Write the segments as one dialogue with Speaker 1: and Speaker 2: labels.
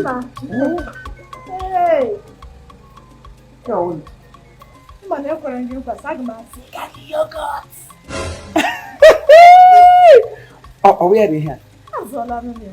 Speaker 1: Mba. Hey. Yawon. Mba na ekwere m gị nkwa sị aga m azụta gị
Speaker 2: yogurt. Ọ wụ ya bụ ihe a? Azụọla m ya.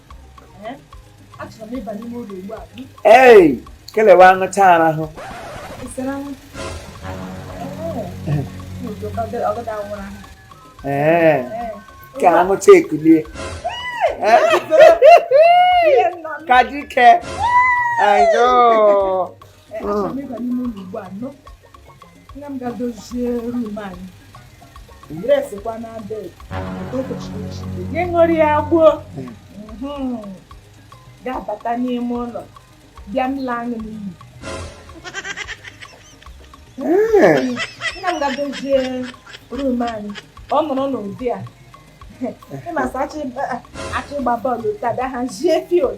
Speaker 2: ee kelewa aṅụcha arahụ ee ka aṅụcha ekulie ka dike I know. nne m gaa dozie room anyị resikwa na be gị ṅụrụ ya gbuo
Speaker 1: ga-abata n'ime ụlọ bịa m laa anyị n'iyi nne m gaa dozie room anyị ọ nọrọ n'ụdị a ịmasị achọ ịgba bọọlụ taa bịa hazie field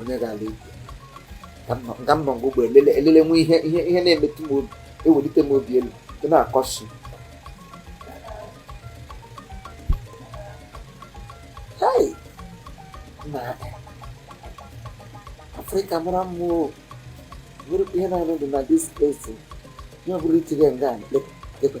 Speaker 2: onye ga-ala ibu ka mbọ ngwa ụgbọ elele nwe ihe ihe ihe na-emetụ m obi ewelite m obi elu dị na-akọsi afrịka mara mma o nwere ihe na-anụ dị na this place ihe ọ bụla i tinye nga lekwe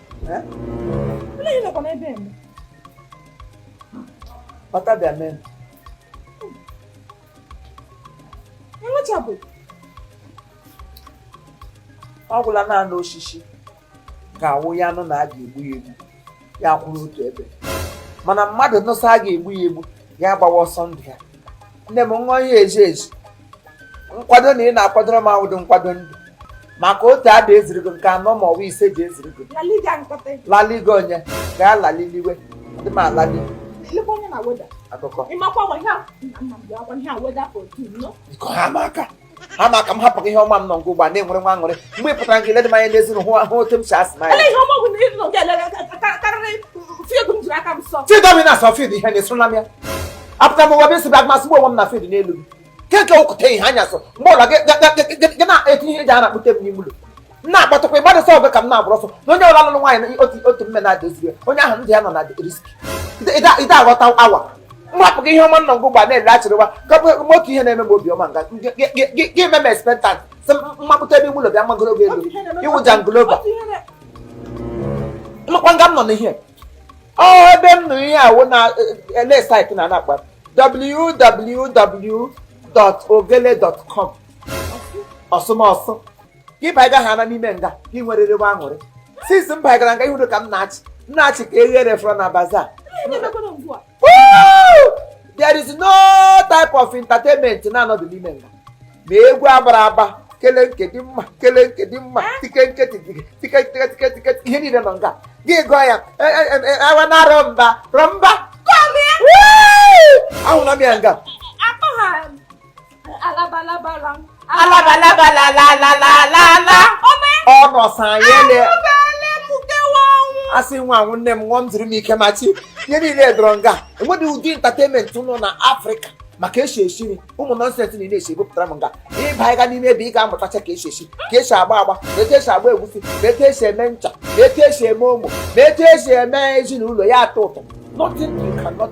Speaker 2: ọtabịa mee ọ gwụla naanị osisi ga-awụ ya nụ na a ga-egbu ya egbu ya kwụrụ otu ebe mana mmadụ nụ sị a ga-egbu ya egbu ya gbawa ọsọ ndụ ya nne m nwa ihe eji eji nkwado na ị na-akwadoro m awụdị nkwado ndụ maka otu ada ezirigo nke anọ ma ọwa ise ji ezirigo laligo onye gaa laliliwe dị m alali akụkọ biko ha ma aka ha ma aka m hapụ ihe ọma m nọ nga ugbu a na-enwere nwa aṅụrị mgbe ị pụtara nke ledị m anya n'ezi hụ ahụ otu m si asị na ya fidomina sọ field ihe na-esoro na m ya apụta m ụwa bụ isi bịa masị onwe m na field n'elu gị keke okwute ihe anya so mgbe ọ bụla gị na-etinye ihe ji a na-akpụte m n'ime ụlọ na-akpọtụkwa ịgbadị sọ ọgụ ka m na-agbụrụ ọsọ na onye ọ bụla lụrụ nwaanyị na otu mme na-adoziri onye ahụ ndụ ya nọ na risk ide aghọta awa m rapụ gị ihe ọma nọ nga ugbu a na-ele achịrịwa kapụ otu ihe na-eme m obiọma nga gị eme m expectant sị m mapụta ebe ụlọ bịa magoro gị elu iwụja ngloba makwa nga m nọ n'ihe ọ ebe m nụrụ ihe a wụ online site na a na-akpọ www.ogelle.com ọsụmọsụ gị baga ha na n'ime nga gị nwerere nwa aṅụrị since m bagara nga ị hụrụ ka m na-achị m na-achị ka eghere fọrọ na bazaar there is no type of entertainment na-anọdụ n'ime nga ma egwu a gbara agba kele nke dị mma kele nke dị mma tike ihe niile nọ nga gị gụọ ya awa na rọmba rọmba ahụla m ya nga ọ nọsa ya ele asị nwa anwụ nne m nwa m ziri m ike ma chi ihe niile dọrọ nga enweghị ụdị entertainment nọ na africa ma ka e si esi nri ụmụ nonsense niile e si ebupụtara m nga ịba ịga n'ime ebe ị ga-amụtacha ka e si esi ka e si agba agba na etu e si agba egwusi na etu e si eme ncha na etu e si eme ụmụ na etu e si eme ezinụlọ ya atọ ụtọ nothing you cannot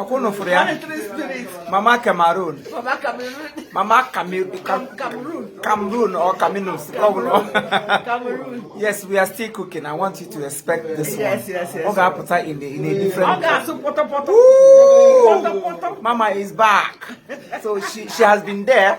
Speaker 2: ọkwa ụnụ fụrụ ya mama cameroon mama cameroon or caminus yes we are still cooking i want you to expect this one ọ ga-apụta in a in a different mama is back so she, she has been there